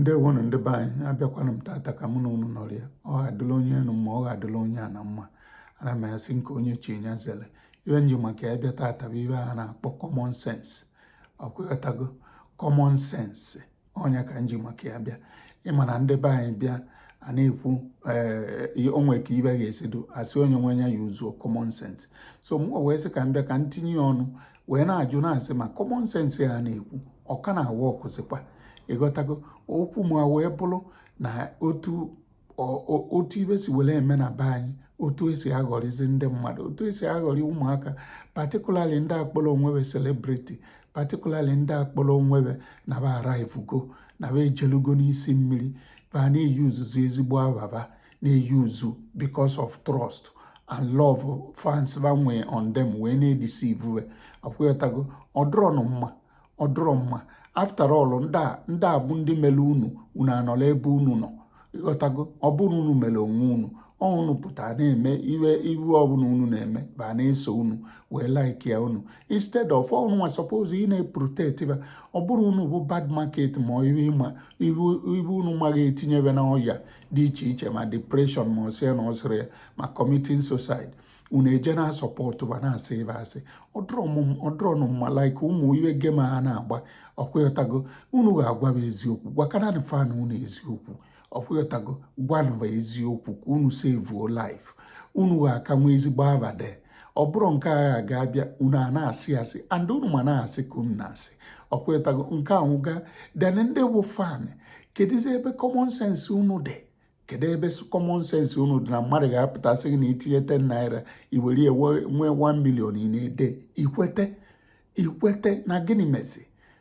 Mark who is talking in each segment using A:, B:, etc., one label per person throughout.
A: ndewonụ ndị be anyị abịakwana m tata ka mụ na unu nọrọ ya ọ ga-adịla onye enu mma ọ ga-adịla onye ana mma ana m asị nke onye chi ya zere ibe nji maka ya bịa tata bụ ibe a na-akpọ common sense ọkwa ịghọtago common sense ọ nya ka nji maka ya bịa ịma na ndị be anyị bịa a na-ekwu eh, o nwe ka ibe ga-esi dụ a sị onye nwe ya ya yuzuo common sense so m wee sị ka m bịa ka m tinye ọnụ wee na-ajụ na-asị ma common sense a na-ekwu ọ ka na-aworkzikwa ịghọtago okwu m a wee bụrụ na otu otu ibe si were eme na be anyị otu esi aghọrịzi ndị mmadụ otu esi aghọrị ụmụaka particularly ndị kpọrọ onwe be celebrity particularly ndị kpọrọ onwe be na ba arrivego na ba ejelugo n'isi mmiri ba na-eyuzuzi ezigbo aba ba na-eyuzu because of trust and love fans ba nwe on them wee na-edeceive ọkwa ịghọtago ọ dụrọnụ mma ọ dụrọ mma after all ndị a bụ ndị mere unu unu anọla ebe unu nọ ịghọtago ọ bụrọ unu mere onwe unu unu pụta na-eme iwe iwe ọbụla unu na-eme ba na-eso unu wee like ya unu instead of unu nwa suppose ị na-eprotect ba ọ bụrụ unu bụ bad market ma iwe unu maghị etinye be na ọya dị iche iche ma depression ma ọsị na ọsịrị ya ma committing suicide unu eje na-asupport ba na-asị ba asị ọ dụrọnụ mma like ụmụ iwe game a na-agba ọkwa ịghọtago unu ga-agwa ba eziokwu gwakananị fan unu eziokwu ọkwa ịghọtago gwanụ ba eziokwu ka unu saveuo life unu ga-aka nwe ezigbo aba de ọ bụrọ nke a ga-abịa unu a na-asị asị and unu ma na asị ka unu na-asị ọkwa ịghọtago nke ahụ gaa then ndị bụ fan kedụzi ebe common sense unu dị kedu ebe common sense unu dị na mmadụ ga-apụta sị gị na itinye 10 naira iwere ya nwee 1 million in a day ikwete ikwete na gịnị mezi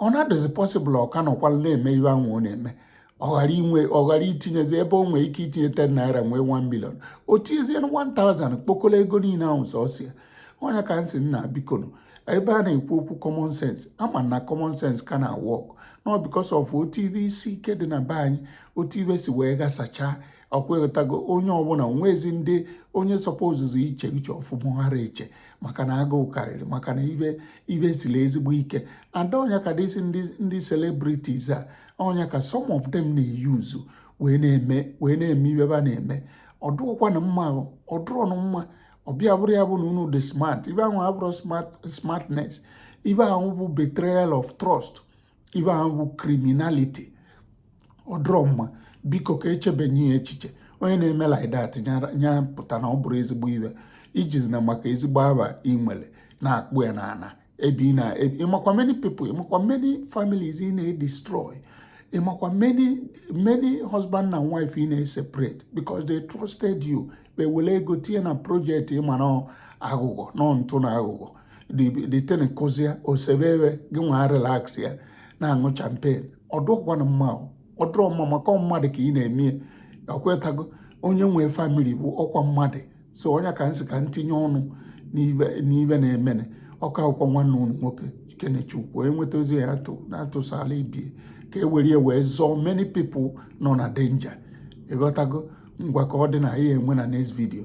A: ọ na-adịzi possible ọ ka nọkwala na-eme ihe ahụ ọ na-eme ọ ghara inwe ọ ghara itinyezi ebe o nwee ike itinye 10 naira nwee 1 million o tinyezie 1000 kpokọla ego niile ahụ sọsọ ya ọ nya ka m si na bikonu ebe a na-ekwu okwu common sense a ma na common sense ka na-aworknụ because of otu ibe isi ike dị na be anyị otu ibe si wee ghasachaa ọkwa ịghọtago onye ọbụla nwezi ndị onye supposezi iche uche ọfụma ghara eche maka na agụụ karịrị maka na ibe ibe siri ezigbo ike and ọ nya ka these ndị celebrities a ọ nya ka some of them na-eyuzu wee na-eme wee na-eme ibe ba na-eme ọ dụrọkwanụ mma ọ dụrọnụ mma ọ bịa bụrụ ya bụ na unu dị smart ibe ahụ abụrọ smartness ibe ahụ bụ betrayal of trust ibe ahụ bụ criminality ọdụrọ mma biko ka e chebenye ya echiche onye na-eme like that nya pụta na ọ bụrọ ezigbo ibe ijizi na maka ezigbo aba ị nwele na-akpụ ya n'ana ebe ị na ịmakwa many people ịmakwa many families ị na-destroy ịmakwa many husband na wife ị na-separate because they trusted you wele ego tinye na project ịma na aghụghọ nọ ntụ na aghụghọ dị e tinyekọzịa osebe ebe gị nwa relax ya na-aṅụ champagne ọdụrọkwanụ mma ọdụrọ mma maka mmadụ ka ị na-eme ọkwetago onye nwee family bụ ọkwa mmadụ so ọ nya ka nsị ka ntinye ọnụ n'ibe na-emenụ ọka akwụkwọ nwanne unu nwoke kenechukwu enweta ozi ya atụ na-atụsala ibe ye ka e were ya wee zọọ many people nọ na danger ịghọtago ngwa ka ọ dị na ihe enwe na next video